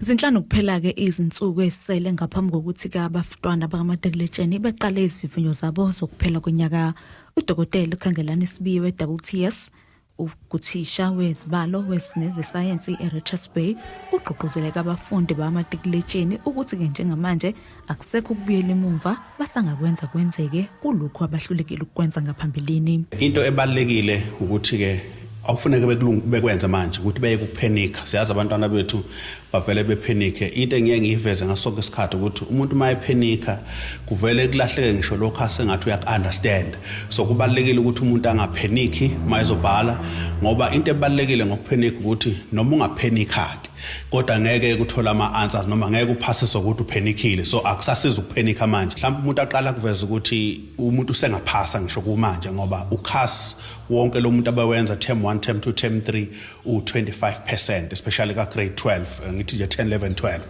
Zinhlanu kuphela-ke izinsuku ezisele ngaphambi kokuthi-ke abafitwana bakamatekeletsheni beqale izivivinyo zabo zokuphela konyaka udokotela ukhangelani sibiye we-wts uthisha wezibalo wezinezesayensi e-richards bay ugqugquzeleka abafundi bamatikiletsheni ukuthi-ke njengamanje akusekho ukubuyela emumva basangakwenza kwenzeke kulokhu abahlulekile ukukwenza ngaphambilini into ebalekile ukuthi ke awufuneke bekwenze manje ukuthi beye kuphenika siyazi abantwana bethu bavele bephenike into engiye ngiyiveze ngasonke isikhathi ukuthi umuntu uma ephenika kuvele kulahleke ngisho lokho asengathi uyaku-understand so kubalulekile ukuthi umuntu angapheniki uma ezobhala ngoba into ebalulekile ngokuphenika ukuthi noma ungaphenika-ke kodwa ngeke ukuthola ama-answers noma ngeke uphase sokuthi uphenikile so akusasiza ukuphenika manje mhlawumbe umuntu aqala kuveza ukuthi umuntu usengaphasa ngisho kumanje ngoba ukhas wonke lo muntu abawenza term 1 term 2 term 3 u-25 percent especially ka-grade 12 eh, ngithi nje 10 11 12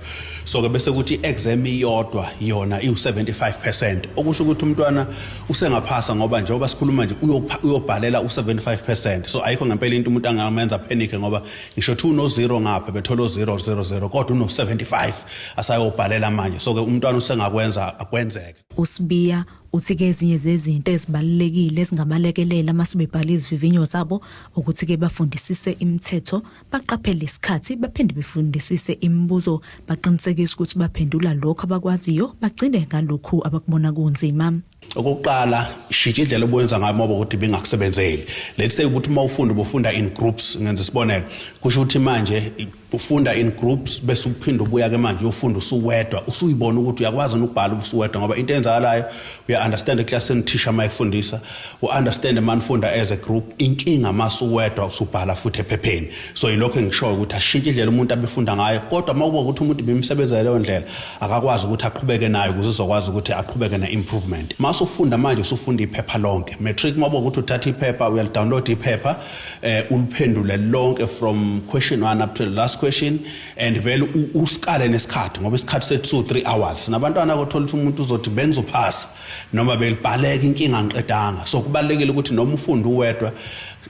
so-ke bese kuthi i-exam iyodwa yona iwu-75 percent okusho ukuthi umntwana usengaphasa ngoba njengoba sikhuluma nje uyobhalela u-75 percent so ayikho ngempela into umuntu angamenza phenike ngoba ngisho 2 no 0 ngapha bethola 000 kodwa uno 75 asayobhalela manje so ke umntwana usengakwenza akwenzeke uSibiya uthi ke ezinye zezinto ezibalulekile ezingabalekelela masibebhala izivivinyo zabo ukuthi ke bafundisise imithetho baqaphele isikhathi baphinde befundisise imibuzo baqinisekise ukuthi baphendula lokho abakwaziyo bagcine ngalokho abakubona kunzima Okokuqala shintsha indlela obuwenza ngayo uma ukuthi bengakusebenzeli. Let's say ukuthi uma ufunda ubufunda in groups ngenza isibonelo. Kusho ukuthi manje ufunda in groups bese uphinde ubuya ke manje uyofunda usuwedwa usuyibona ukuthi uyakwazi ukubhala usuwedwa ngoba into enzakalayo uya understand eclassini thisha uma efundisa u understand man funda as a group inkinga masuwedwa usubhala futhi ephepheni so yilokho engishoyo ukuthi ashintshe indlela umuntu abefunda ngayo kodwa uma kuba ukuthi umuntu bimsebenza leyo ndlela akakwazi ukuthi aqhubeke nayo ukuze uzokwazi ukuthi aqhubeke ne-improvement uma usufunda manje usufunda iphepha lonke matric uma ukuthi uthatha iphepha uyalidownload iphepha eh, uliphendule lonke from question 1 up to the last question and vele usikale nesikhathi ngoba isikhathi se 2 3 hours nabantwana kothola ukuthi umuntu uzothi bengizophasa noma belibhaleka inkinga ngiqedanga so kubalekile ukuthi noma ufunda uwedwa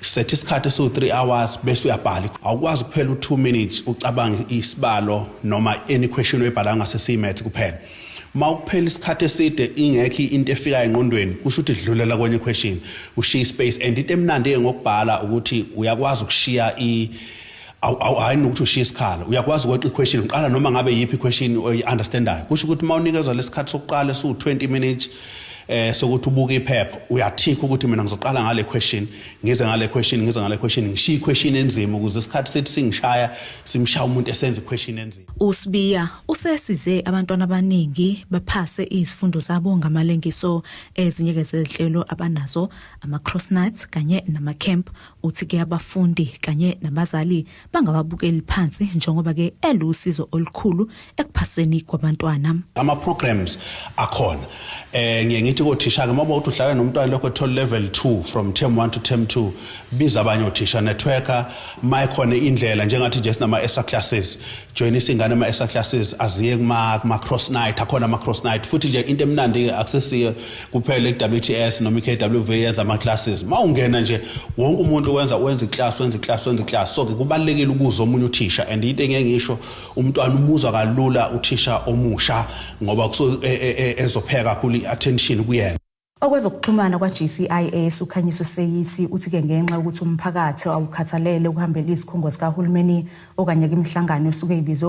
Setha isikhathi esiwu-3 hours bese uyabhala. Awukwazi kuphela u-2 minutes ucabange isibalo noma any question oyibhalayo ngase siyimaths kuphela. Uma ukuphela isikhathi eside ingekho into efikayo engqondweni kusho ukuthi dlulela kwenye question ushiye ispace and into emnandi ngokubhala ukuthi uyakwazi ukushiya i awu hayi nokuthi ushiye isikhala uyakwazi ukweqa iquestion uqala noma ngabe yiphi iquestion oyi-understandayo kusho ukuthi uma unikezwa lesikhathi sokuqala esiwu-20 minutes eh sokuthi ubuke iphepha uyathikha ukuthi mina ngizoqala ngale question ngize ngale question ngize ngale question ngishiye question enzima ukuze isikhathi sithi singishaya simshaya umuntu esenza iquestion enzima uSibiya usesize abantwana abaningi baphase izifundo zabo ngamalengiso ezinyeke zehlelo abanazo ama cross nuts kanye nama camp uthi ke abafundi kanye nabazali bangababukeli phansi njengoba ke elusizo olukhulu ekuphaseni kwabantwana ama programs akhona eh ngiye ngithi kothisha ke mabawuthi uhlala nomntwana lokho thola level 2 from term 1 to term 2 biza abanye othisha networker mayikhona indlela njengathi nje sinama extra classes join isingane ama extra classes aziye kuma kuma cross night akhona ama cross night futhi nje into emnandi akusesiyo kuphela iWTS noma iKWV yenza ama classes mawungena nje wonke umuntu wenza wenza iclass wenza iclass wenza iclass so ke kubalekile ukuza omunye uthisha and into engeke ngisho umntwana umuzwa kalula uthisha omusha ngoba kuso e, e, e, ezopheka kakhulu iattention kuyena Okwezokuxhumana kwa-GCIS uKhanyiso Seyisi uthi ke ngenxa ukuthi umphakathi awukhathalele ukuhambela izikhungo zikahulumeni okanye kwimihlangano esuke ibizwe